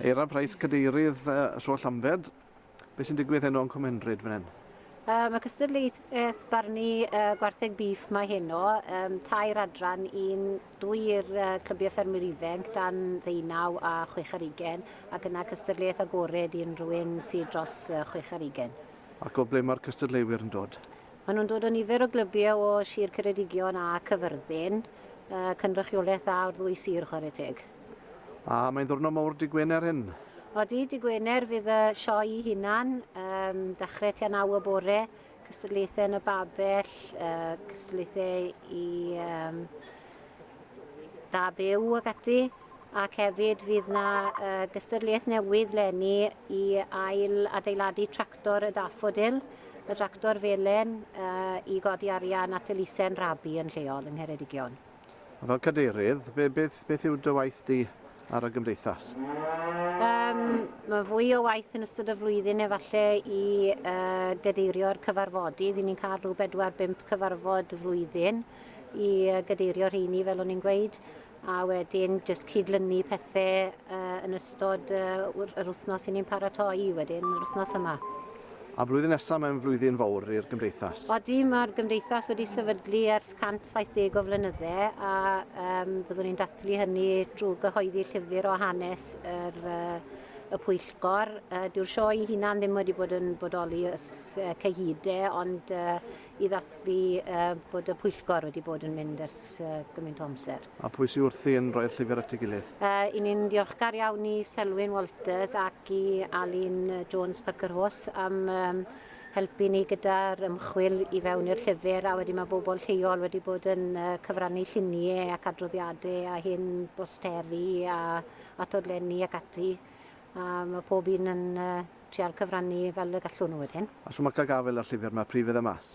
Eira Price, Cadeirydd, Sôl Llambed. Beth sy'n digwydd heno yn Cwmenryd fan hyn? Um, mae cystadleuaeth barnu uh, gwartheg bîff mae heno, um, tair adran, un dwy i'r uh, clybiau ffermwyr ifanc dan ddeunaw a chwech ar ugen, ac yna cystadleuaeth agored i unrhyw un sydd dros uh, chwech ar ugen. Ac o ble mae'r cystadleuwyr yn dod? Maen nhw'n dod o nifer o glybiau o Sir Ceredigion a Cyfyrddin. Cynrychiolaeth dda o'r ddwy sir, chwarae teg. A mae'n ddiwrnod mawr Dy Gwener hyn? Odi, Dy Gwener fydd y sioe i hunan. Dechrau tua naw y bore, cystadlaethau yn y babell, cystadlaethau i... da byw ac ati, ac hefyd fydd 'na uh, gystadleuaeth newydd lenni i ail adeiladu tractor y daffodil, y tractor felen, uh, i godi arian at elusen rabi yn lleol yng Ngheredigion. Fel cadeirydd, beth, beth yw dy waith di ar y gymdeithas? Um, mae fwy o waith yn ystod y flwyddyn efallai i uh, gadeirio'r cyfarfodydd. I ni'n cael rhyw 4-5 cyfarfod y flwyddyn i uh, gadeirio'r rheini fel o'n i'n gweud a wedyn jyst cydlynu pethau uh, yn ystod uh, yr wythnos i ni'n paratoi wedyn, yr wythnos yma. A blwyddyn nesaf mae'n flwyddyn fawr i'r Gymdeithas. Odi, mae'r Gymdeithas wedi sefydlu ers 170 o flynyddau a um, byddwn ni'n dathlu hynny drwy gyhoeddi llyfr o hanes yr, uh, y pwyllgor. Uh, Dyw'r sioe i hunan ddim wedi bod yn bodoli ys uh, cyhyd ond uh, i ddathlu uh, bod y pwyllgor wedi bod yn mynd ers uh, gymaint o amser. A pwy sy'n wrthi yn rhoi'r llyfr at ei gilydd? Uh, I ni'n ddiolchgar iawn i Selwyn Walters ac ac i Alun Jones Parker Horse am um, helpu ni gyda'r ymchwil i fewn i'r llyfr a wedyn mae bobl lleol wedi bod yn uh, cyfrannu lluniau ac adroddiadau a hyn bosteri a atodlenni ac ati a mae pob un yn uh, trial cyfrannu fel y gallwn nhw wedyn. A so mae cael gafael ar llyfr mae prif fydda mas?